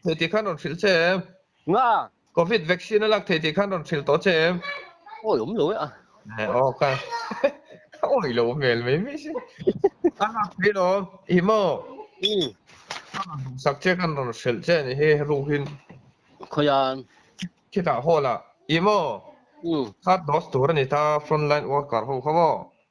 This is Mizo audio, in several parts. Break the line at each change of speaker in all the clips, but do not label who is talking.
Thei tih khan rawn hrilh che em? Nga. Covid vaccine a lak thei tih khan rawn hrilh tawh che em? Awi awm lo e a. Eh aw ka awi lo hmel mai mai si. A lak thei lo i maw? I. Khan rawn duh sak che khan rawn hrilh che a nih hi ruhin. Khawian. Khitah hall ah i maw? I. Third dose tur a ni ta, front line worker ho kha maw?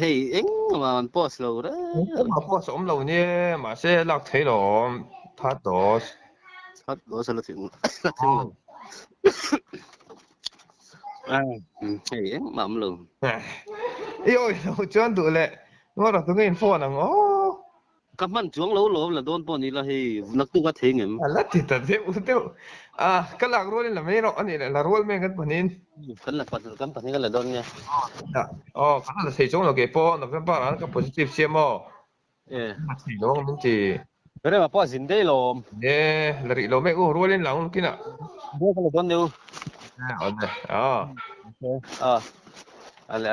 hei eng ma an post lo re ma post om lo ni ma se lak thei lo that dos that dos la thing la thing ai hei eng ma om lo i oi lo chuan du le ngora tu ngin phone ang o Ka hman chuang lo lo, la dawn pawh ni la hei, naktuk a thleng em? A la ti ta deuh deuh. A, ka lak rual in la mei rawh a nih leh, la rual meng kan pahnihin. Kan la pahnalh, kan pahnih kan la dawn nia. Ina, aw, ka la la thei chuang lo kei pawh, November ah ka positive che maw? E. Ka la thei lo ang min ti. Berema pawh a zin daih lawm. E, la rih lo mek u, rual in la ang lukin ah. Rual ka la dawn leh u. E, awle, a. Awle, a.